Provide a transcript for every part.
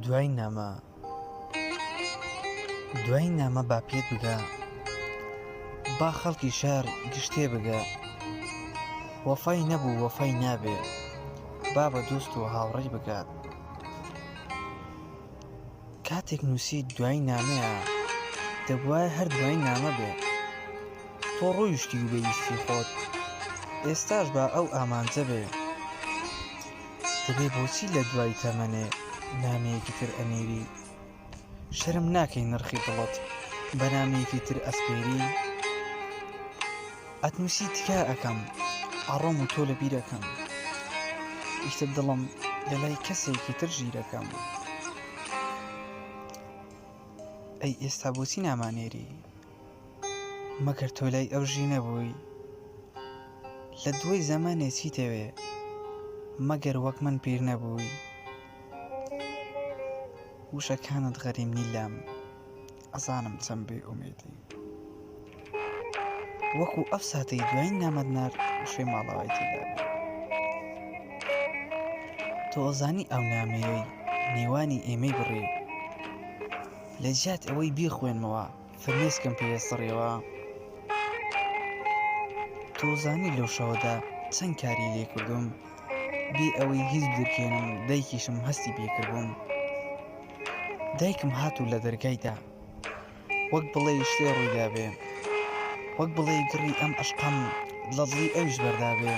دوای نامە دوای نامە با پێت بگا با خەڵکی شار گشتێ بگە وەفای نەبوو وەفای نابێ با بە دۆست و هاوڕێی بگات کاتێک نووسی دوای نامەیە دەبواە هەر دوای نامە بێ تۆ ڕۆیشتی و بەویستی خۆت ئێستاش بە ئەو ئامانجە بێ دەبێ بۆچی لە دوای تەمەنێ نامەیەکی تر ئەنێری شەرم ناکەی نرخی دڵت بە نامەیەکی تر ئەسپێری ئەتنوسی تکایە ئەکەم ئەڕۆم و تۆ لە بیرەکەم ئیشتر دڵم لە لای کەسێکی تر ژیرەکەم ئەی ئێستا بۆچی نامانێری مەگەر تۆ لای ئەو ژی نەبووی لە دوای زەمانێ چی تەوێ مەگەر وەک من پیر نەبووی وشەکانت غەریم نیلام ئەزانم چەند بێ ئومێدی. وەکو ئەو ساتەی دوایین نامەت نارد شوێ ماڵەوای تێدا بێ. تۆ ئەزانی ئەو نامەیەی نێوانی ئێمەی بڕی لە جیات ئەوەی بیخوێنمەوە فرمێسکم پێ سڕیەوە تۆزانی لەو شەوەدا چەند کاری لێ کردوم بێ ئەوەی هیچ درکێنم دایکیشم هەستی پێکردبووم دایکم هات و لە دەرگای دام وەک بڵێی شتێ ڕوویدابێ وەک بڵێی گڕی ئەم عشقەم لە دڵی ئەویش بەردابێ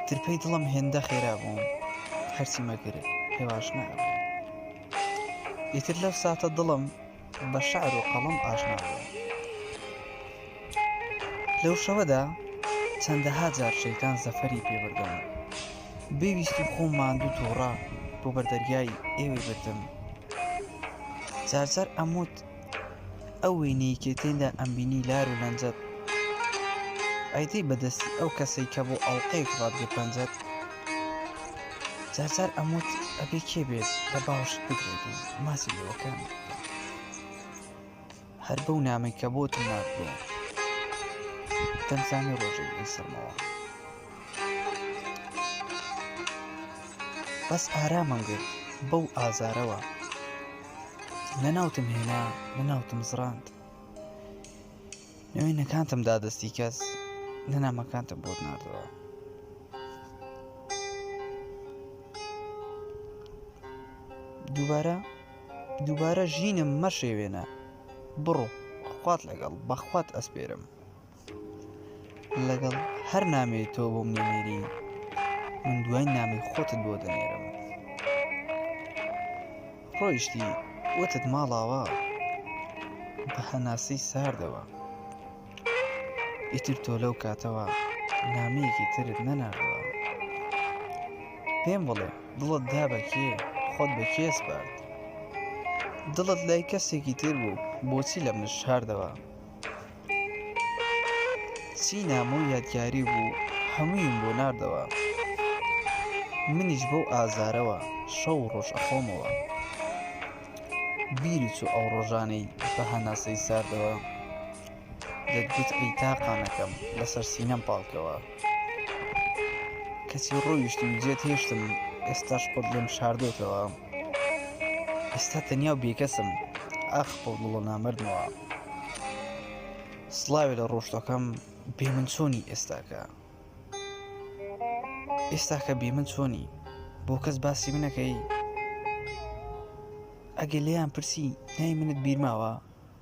ترپەی دڵم هێندە خێرا بووم هەرچی مەگرێت هێواش نابێ ئیتر لەو ساتە دڵم بە شعر و قەڵم ئاشنا بووە لەو شەوەدا چەندەها جار شەیتان زەفەری پێبردم بێویستی خۆم ماندوو تووڕە بۆ بەردەریای ئێوەی بردم جارجار ئەموت ئەو وینەی کە تێندا ئەمبینی لار و لەنجەت ئەیدەی بەدەستی ئەو کەسەی کە بۆ ئەڵلقەیەک ڕادگە پەنجەت جارجار ئەموت ئەبێ کێ بێت لە باوشت بگرێت و ماسی لەوەکان هەر بەو نامی کە بۆ تو ناردووە دەمزانی ڕۆژێک بێ سەرمەوە بەس ئارامم گرت بەو ئازارەوە نەناوتم هێنا نەناوتم زڕاند نوێی نەکانتم دا دەستی کەس لە نامەکانتم بۆت نردەوە دووبارە دووبارە ژینم مەشێوێنە بڕۆ خوات لەگەڵ بەخوات ئەسپێرم لەگەڵ هەر نامێ تۆ بۆ منێری من دوای نامی خۆتت بۆ دەنێرم ڕۆیشتی وتت ماڵاوا بە هەناسەی ساردەوە ئیتر تۆ لەو کاتەوە نامەیەکی ترت نەناردەوە پێم بڵێ دڵت دا بە کێ خۆت بە کێ سپارد دڵت لای کەسێکی تر بوو بۆچی لە من شاردەوە چی نامە و یادگاری بوو هەموویم بۆ ناردەوە منیش بەو ئازارەوە شەو ڕۆژ ئەخۆمەوە بیری چوو ئەو ڕۆژانەی بە هەناسەی ساردەوە دەتگوت ئەی تاقانەکەم لەسەر سینەم پاڵکەوە کەچی ڕۆیشتم جێت هێشتم ئێستاش خۆت لێم شاردۆتەوە ئێستا تەنیا و بێکەسم ئاخ بۆ دڵۆ نامردمەوە سلاوێ لە ڕۆشتەکەم بێ من چۆنی ئێستاکە ئێستاکە بێ من چۆنی بۆ کەس باسی منەکەی ئەگەر لێیان پرسی نای منت بیرماوە